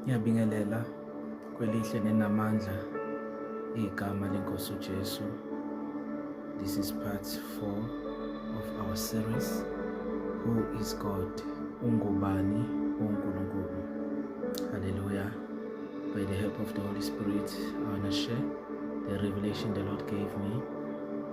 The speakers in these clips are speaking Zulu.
Ngiyabingelela kwelihle nenamandla igama lenkosi uJesu. This is part 4 of our series Who is God? Ungubani uNkulunkulu? Hallelujah. By the help of the Holy Spirit, I want to share the revelation the Lord gave me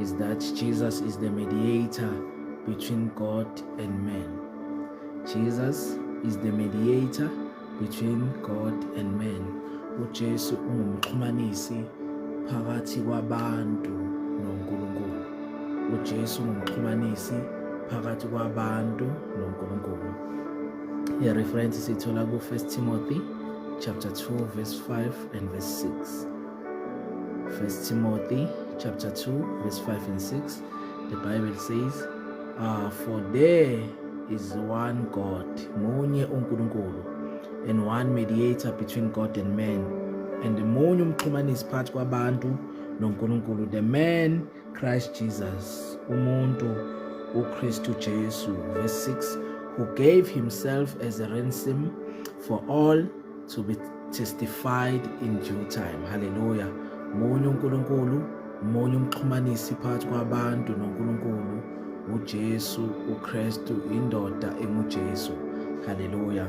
is that Jesus is the mediator between God and man. Jesus is the mediator between God and man. UJesu ungumxhumanisi phakathi kwabantu noNkulunkulu. UJesu ungumxhumanisi phakathi kwabantu noNkulunkulu. I reference sithola ku 1 Timothy chapter 2 verse 5 and verse 6. First Timothy chapter 2 verse 5 and 6 the Bible says uh, for there is one God munye uNkulunkulu and one mediator between God and man and munye umxhumanisi phakathi kwabantu noNkulunkulu the man Christ Jesus, umuntu uKristu Jesu, verse 6, who gave himself as a ransom for all to be testified in due time. Hallelujah. Munye uNkulunkulu, munye umxhumanisi phakathi kwabantu noNkulunkulu, uJesu uKristu, indoda enguJesu. Hallelujah.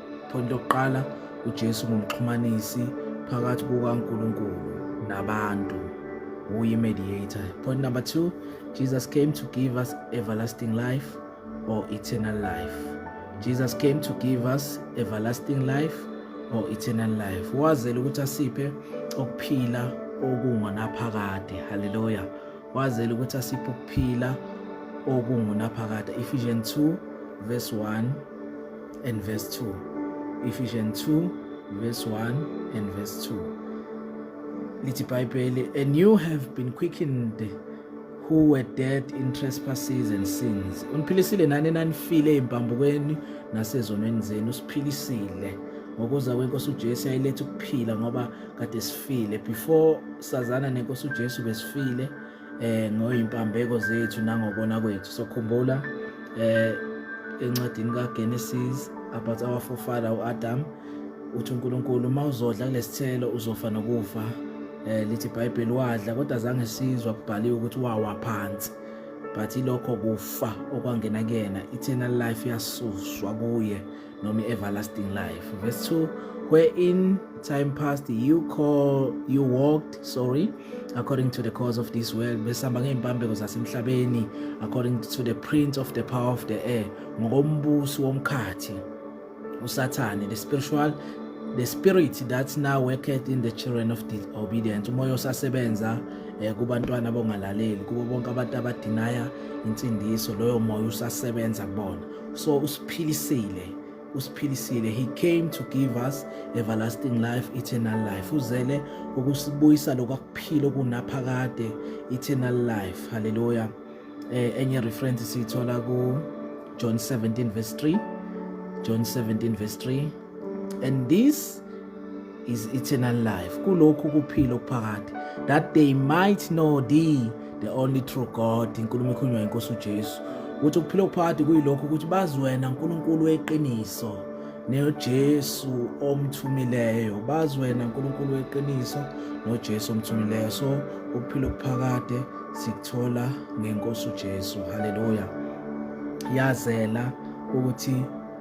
Point lokuqala uJesu ngumxhumanisi phakathi kukaNkulunkulu nabantu. Uyi mediator. Point number 2, Jesus came to give us everlasting life or eternal life. Jesus came to give us everlasting life or eternal life. Wazela ukuthi asiphe okuphila okungonaphakade. Hallelujah. Wazela ukuthi asiphe okuphila okungunaphakade. Ephesians 2 verse 1 and verse 2. Ephesians 2 verse 1 and verse 2. Lithi Bible, and you have been quickened who were dead in trespasses and sins uniphilisile nani nanifile empambukweni nasezonweni zenu usiphilisile ngokuza kwenkosi uJesu yayiletha ukuphila ngoba kade sifile before sazana nenkosi uJesu besifile eh ngoyimpambeko zethu nangokona kwethu so khumbula eh encwadini kaGenesis about our forefather uAdam uthi uNkulunkulu uma uzodla kulesithelo uzofa nokufa eh lithi iBhayibheli wadla kodwa zange sizwa kubhaliwe ukuthi wawa phansi but ilokho kufa okwangena kuyena eternal life yasuswa kuye noma i-everlasting life verse 2 wherein time passed you call you walked sorry according to the cause of this world besihamba ngey'mpambeko zasemhlabeni according to the prince of the power of the air ngokombusi womkhathi usathane the spiritual the spirit that now worketh in the children of disobedience umoya osasebenza eh, kubantwana abongalaleli kubo bonke abantu abadinaya insindiso loyo moya usasebenza kubona so usiphilisile usiphilisile he came to give us everlasting life eternal life uzele ukusibuyisa lokwakuphila okunaphakade eternal life haleluya eh, enye reference siyithola ku John 17 verse 3 John 17 verse 3 and this is eternal life kulokhu kuphila okuphakade that they might know thee the only true god inkulumo ekhulunywa inkosi ujesu ukuthi ukuphila okuphakade kuyilokho ukuthi bazi wena nkulunkulu weqiniso nojesu omthumileyo bazi wena nkulunkulu weqiniso nojesu omthumileyo so ukuphila okuphakade sikuthola ngenkosi ujesu haleluya yazela ukuthi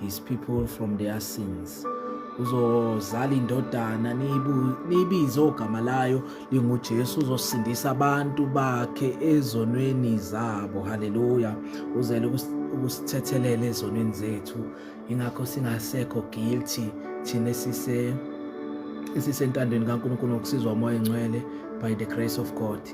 his people from their sins uzozala indodana niyibize ogama layo linguJesu uzosindisa abantu bakhe ezonweni zabo haleluya uzele ukusithethelele ezonweni zethu ingakho singasekho guilty thina sise esisentandweni kaNkulunkulu ngokusizwa umoya engcwele by the grace of God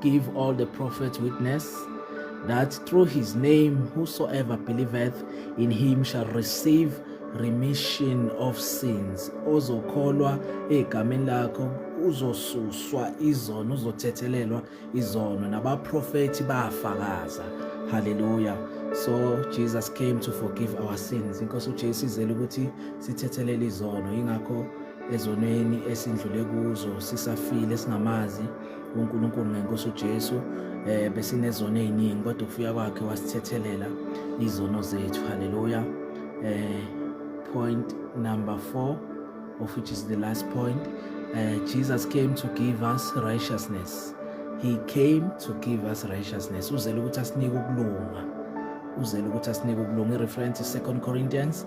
Give all the prophets witness that through his name whosoever believeth in him shall receive remission of sins ozokholwa egameni lakho uzosuswa izono uzothethelelwa izono nabaprofethi bafakaza haleluya so jesus came to forgive our sins inkosi ujesu izele ukuthi sithethelele izono yingakho ezonweni esindlule kuzo sisafile singamazi uNkulunkulu ngenkosi uJesu eh besinezono eziningi kodwa ufika kwakhe wasithethelela izono zethu haleluya eh point number 4 of which is the last point uh, Jesus came to give us righteousness he came to give us righteousness uzele ukuthi asinike ukulunga uzele ukuthi asinike ukulunga i-reference 2 Corinthians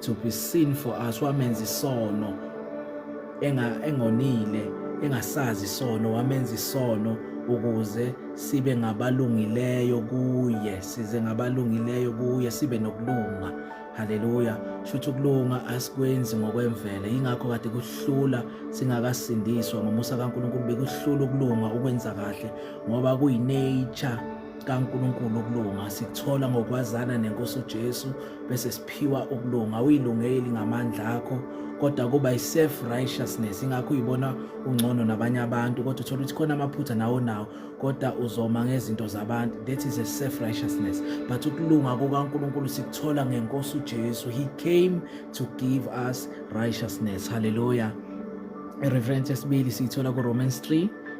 to be seen for us wamenza isono enga engonile engasazi isono wamenza isono ukuze sibe ngabalungileyo kuye size ngabalungileyo kuye sibe nokulunga haleluya shuthi ukulunga asikwenzi ngokwemvele yingakho kade kuhlula singakasindiswa ngomusa kaNkulunkulu bekuhlula ukulunga ukwenza kahle ngoba kuyinature kaNkulunkulu ukulunga sikuthola ngokwazana nenkosi uJesu bese siphiwa ukulunga uyilungeli ngamandla akho kodwa kuba i-self righteousness ingakho uyibona ungcono nabanye abantu kodwa uthola ukuthi khona amaphutha nawo nawo kodwa uzoma ngezinto zabantu that is a self righteousness but ukulunga kukaNkulunkulu sikuthola ngenkosi uJesu he came to give us righteousness hallelujah ireference yesibili siyithola ku Romans 3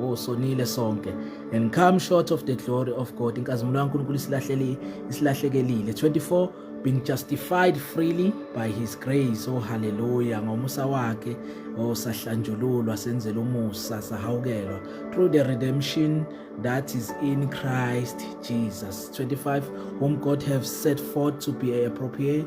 Oh sonile sonke and come short of the glory of God. Inkazimulo kaNkulunkulu isilahleli isilahlekelile. 24 being justified freely by his grace. Oh hallelujah. Ngomusa wakhe oh sahlanjululwa senzela umusa sahawukelwa through the redemption that is in Christ Jesus. 25 whom God have set forth to be a appropriate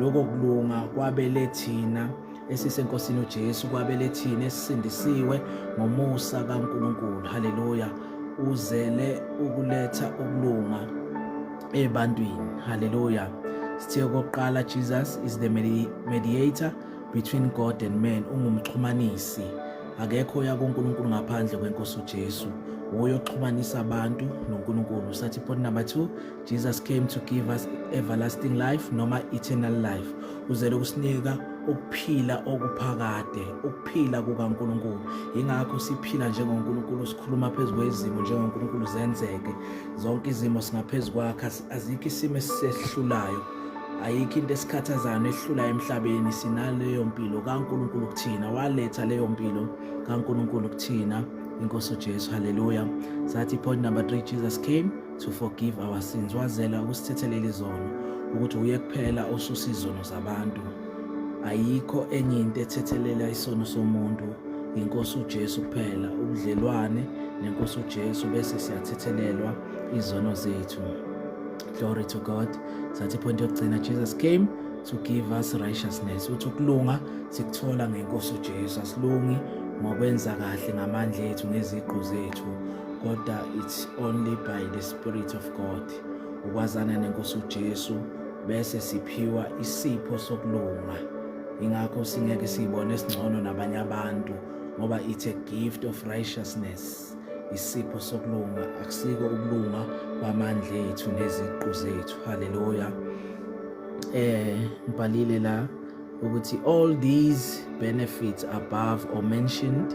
Lokho kulunga kwabele thina esisenkosini uJesu kwabele thina esisindisiwe ngomusa kaNkulunkulu haleluya uzele ukuletha ukulunga ebantwini haleluya sithe okokuqala Jesus is the mediator between God and man ungumxhumanisi akekho oya kuNkulunkulu ngaphandle kwenkosi uJesu uyoxhumanisa abantu noNkulunkulu sathi point number 2 Jesus came to give us everlasting life noma eternal life uzele ukusinika ukuphila okuphakade ukuphila kukaNkuluNkulu ingakho siphila njengoNkuluNkulu sikhuluma phezulu kwezimo njengoNkuluNkulu zenzeke zonke izimo singaphezulu kwakhe azikho isimo esisehlulayo ayikho into esikhathazayo nehlula emhlabeni sinaleyo mpilo kaNkuluNkulu kuthina waletha leyo mpilo kaNkuluNkulu kuthina inkosi uJesu haleluya sathi point number 3 Jesus came to forgive our sins wazela ukusithethelela izono ukuthi uye kuphela osusa izono zabantu ayikho enye into ethethelela isono somuntu inkosi uJesu kuphela ubudlelwane nenkosi uJesu bese siyathethelelwa izono zethu glory to god sathi point yokugcina jesus came to give us righteousness uthi ukulunga sikuthola ngenkosi uJesu asilungi ngokwenza kahle ngamandla ethu ngeziqu zethu kodwa it's only by the spirit of god ukwazana nenkosi ujesu bese siphiwa isipho sokulunga ingakho singeke siyibone esingcono nabanye abantu ngoba it's a gift of righteousness isipho sokulunga akusiko ukulunga kwamandla ethu neziqu zethu haleluya eh ngibhalile la ukuthi all these benefits above or mentioned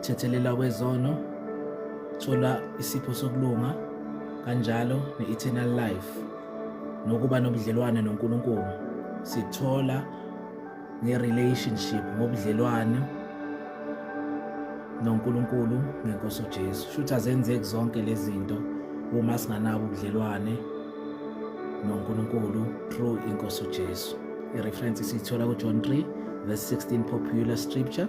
Thethelela kwezono, thola isipho sokulunga kanjalo ne-eternal life nokuba nobudlelwane noNkulunkulu sithola nge-relationship ngobudlelwane noNkulunkulu ngenkosi uJesu shuthi azenzeki zonke lezi zinto uma singanabo ubudlelwane noNkulunkulu through inkosi uJesu i-reference siyithola kuJohn 3 verse 16 popular scripture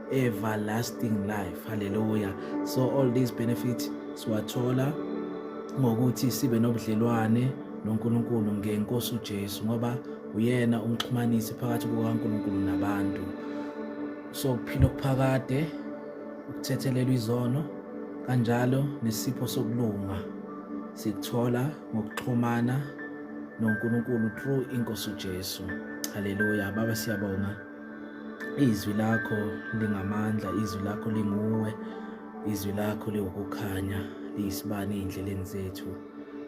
everlasting life haleluya so all these benefits siwathola ngokuthi sibe nobudlelwane noNkulunkulu ngenkosi uJesu ngoba uyena umxhumanisi phakathi kukaNkulunkulu nabantu so kuphila okuphakade ukuthethelelwa izono kanjalo nesipho sokulunga sikuthola ngokuxhumana noNkulunkulu through inkosi uJesu haleluya baba siyabonga izwi lakho lingamandla izwi lakho linguwe izwi lakho liwukukhanya liyisibani ey'ndleleni zethu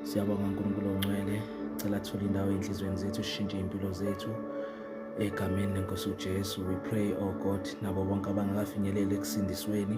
siyabonga unkulunkulu ongcwele cela thula indawo ey'nhliziyweni zethu sishintshe iy'mpilo zethu egameni lenkosi ujesu we pray o oh god nabo bonke abangakafinyeleli ekusindisweni